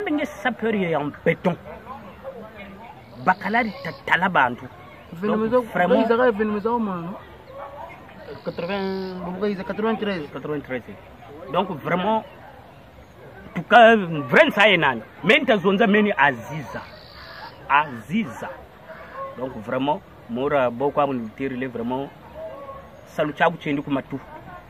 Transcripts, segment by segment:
ndenge sapeur ya en beton bakalari tatala bantu ezaka evenema ezaka mwana 93 donc vraiment tuka vrai nsa ye nani me ntazonza meni aziza aziza donc vraiment mora boko amuniterile vraiment salu caku cendi kumatu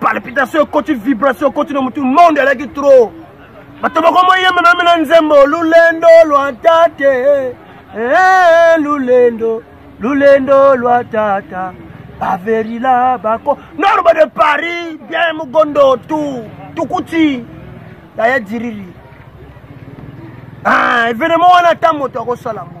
palpitation ekoti vibration ekoti na motu monde alaki trop bato bakomoyemba meme na nzembo lulendo lwa tate eh, eh, lulendo lulendo lwa tata baverila bako norba de paris bien mogondo tu tukuti yaya diriri ah, evenement wana ata moto akosala yango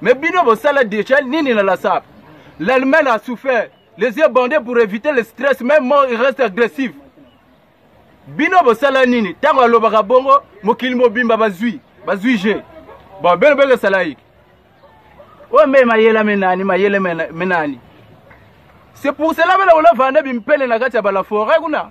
Mais bino bosala deja nini na la sap L'Allemagne a souffert. Les yeux bandés pour éviter le stress, même mort, il reste agressif. Bino bosala nini? Tango alobaka bongo, mokili mobimba bazui, bazui je. Bon, bino bele salaik. Oyo mbe mayela menani, mayele menani. C'est pour cela bela ola vanda bimpele na kati ya bala forêt kuna.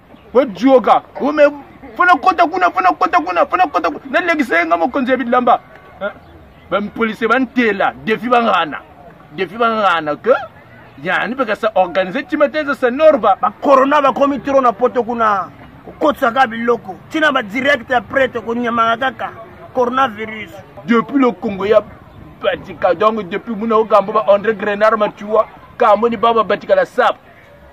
ojioka ume fana kota kuna fana kota kuna fana kota kuna nalekisa ye nga mokonzi ya bilamba eh, bapolisie bantela defi bangana defi bangana ke yani mpe kasa organise tima te eza sanorba bakorona bakomi tro na poto kuna kokotisaka biloko ntina badirekte ya prete konyamaka kaka coronavirus depuis le congo ya batika donc depuis muna okambo ba andre grenard matua kamoni baba batikala sap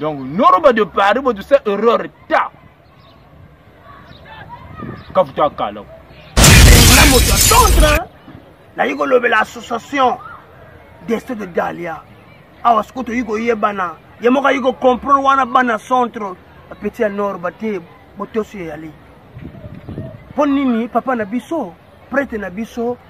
donc noroba de paris bo tusa erreur ta kafuta akala na moto ya centre nayi kolobela association deste de dalia awa sikoyo toyi koyebana ye moko ayi kocomprendre wana bana centre apeti ya nord bate botosi eyali mpo nini papa na biso prete na biso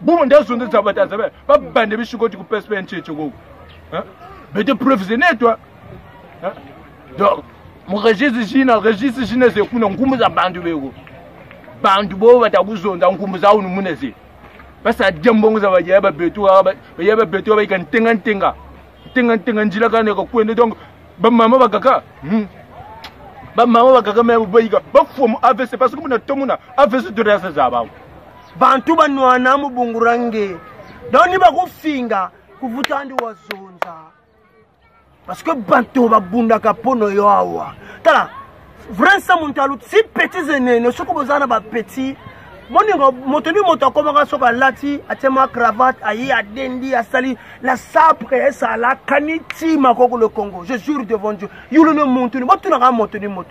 bumu nde zonde zaba ta zaba ba bande bi shikoti ku psp nche chego hein mais de preuves et net toi hein donc mon registre jina registre jina ze kuna ngumu za bandu bego bandu bo bata kuzonda ngumu za unu muneze basa dembongo za baje ba betu ba ya ba betu ba ikan tenga tenga tenga tenga njila kana ko kwende donc ba mama ba kaka hmm. ba mama ba kaka me bo iga ba fomu avc parce que muna tomuna avc de rasa za bangu bantu banwana mubungura nge donc ni bakofinga kuvuta ndi wazonza parce que bato babundaka mpo na yo awa tala vrai sa moto aluti si petit enene soki boza na bapetit moninga moto ni moto akomaka soki alati atie mwa cravate aye adendi asali la sapre esala kani ti makoko le congo je jure devant dieu yulu ne moto ni botunaka moto ni moto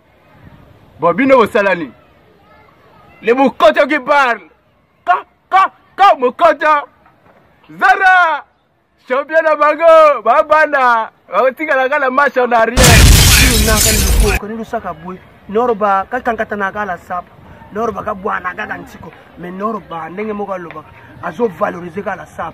Bon, bino bosala nini? Le Mokoto qui parle. Ka, ka, ka, Mokoto. Zara, champion na bango, babanda, bakotikala kaka na match en arrière. Naka ni ko ni lusaka bwe. Norba ka kankata na kala sap. Norba ka bwana kaka ntiko. Mais Norba ndenge moko alobaka. Azo valoriser kala sap.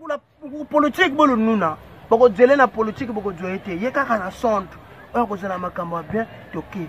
Kuna politique bolo nuna. Boko djele na politique boko djoye te. Ye kaka na sonde. Oyo kozala makambo ya bien toke.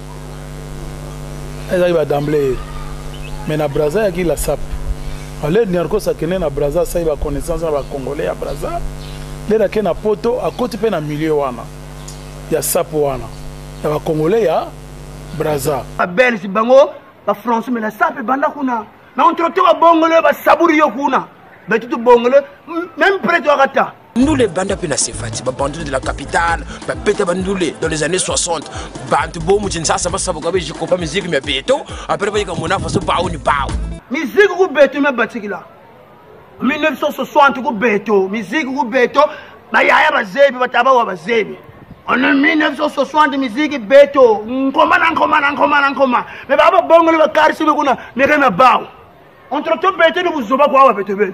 ezalaki ba d'emblée mais na braza yaki la sap ale niarcos akende na braza asali ba connaissance na ba congolais ya braza lele ake na poto akoti mpe na milieu wana ya sap wana ya ba congolais ya braza babelge bango bafrançais mais la sap ebanda kuna na entretemps babongole basaburi yo kuna betutu bongole même prete wakata ndule ebanda mpe na sefati babandule de la capitale babeta bandule dans les années 60 bantu bomu kinsasa basaboka be jikopa miziki mya beto apres bayika mona faso bao ni bao miziki ku beto mya batikila 1960 ku beto miziki ku beto bayaya bazebi batabawa bazebi en 1960 miziki beto nkoma na nkoma na nkoma na nkoma me baa babongoli bakarisibe kuna mekana bao entretemps beto ni buzoba kuawa beto bene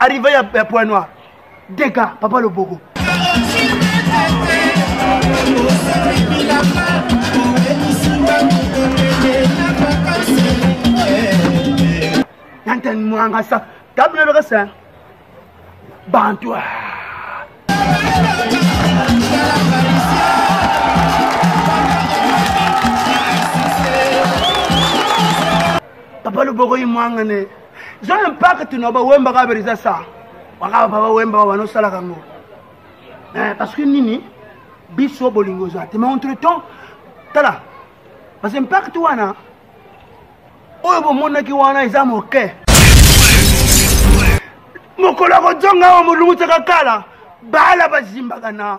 arrive ya, ya point noir dega papa loboko nantan mwanga sa tabule beka sa bantu papa loboko imwangane zwa impact na bawemba kaka bela eza sa wakaka baba wemba babana osalaka yango eh, parce que nini biso bolingo eza te mais entre temps tala parce que impact wana oyo bomonaki wana eza moke mokolo ya kozonga awa molungutsaka kala bala bazimbaka na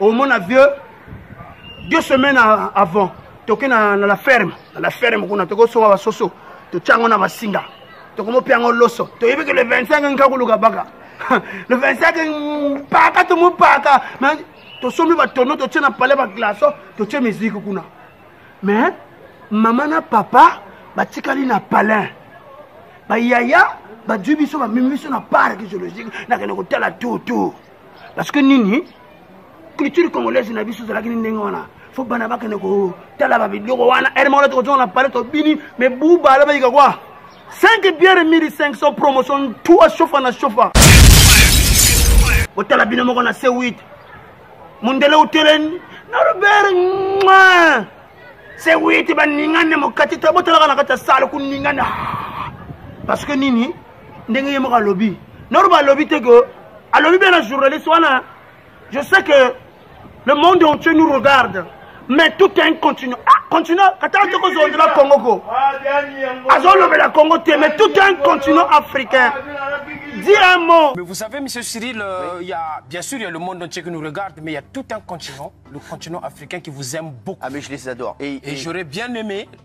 omona vieux deux semaines avant toke na, na la ferme na la ferme kuna tokosonga basoso totya yango na masinga tokomopia yango loso toyebi ke le 25 nkakuluka baka le 25 mpaka tomopaka tosombi batono totye na palais baglaso totye miziki kuna mais mama na papa batikali na palin bayaya bazwi biso bamemi biso na parc zoologique nakende kotala tutu parce que nini culture congolaise na biso ezalaki ni ndenge wana fo bana bakende kotala babiloko wana ere moko tokozonga na pale tobini me buba alobakika kwa 5 biere 1500 promotion tu ashofa na shofa botala bino moko na c 8 mondele uteleni na robert mwa c 8 baningane mokati to botalaka na kati ya sale kuningane ah! parce que nini ndenge ye moko alobi norba alobi te ke alobi mpe na journaliste wana je sais que le monde entier nous regarde mais tout un continent ah continent katala te kozongela congo ko azolobela congo te mais tout un continent africain Dis un mot. Mais vous savez, Monsieur Cyril, euh, il y a, bien sûr, il y a le monde entier qui nous regarde, mais il y a tout un continent, le continent africain qui vous aime beaucoup. Ah, mais je les adore. Et, et... et j'aurais bien aimé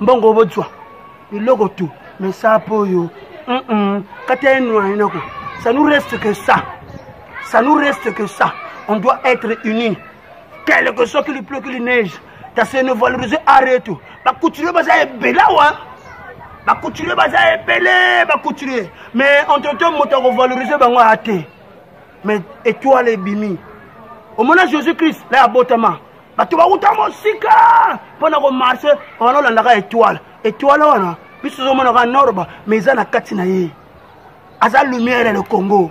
mbongo bozwa biloko tu mesapo oyo mm -mm. kati ya enwainako ça nous reste que ça ça nous reste que ça on doit être unis quel que soit qu'il pleut qu'il neige ta se ne valoriser arrête bacouturier baza ebela wa bacouturier baza ebele bacouturier mais entre temps moto akovaloriser bango aya te mais étoile ebimi omona jésus christ la abotama bato bawuta mosika mpo na komarche wana olandaka etoile etoile wana biso tozomonaka norba ma eza na kati na ye aza lumière ya le congo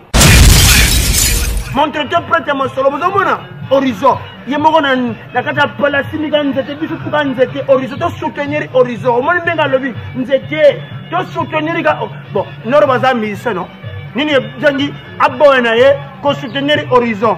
montrete prete ya mosolo bozomona horizon ye moko na kati ya palasimika nzete biso tuka nzete horizon tosoutenir horizon omoni ndenge alobi nzete tosoutenir ka oh, bon noro baza musicien no nini ezangi aboya na ye kosoutenir horizon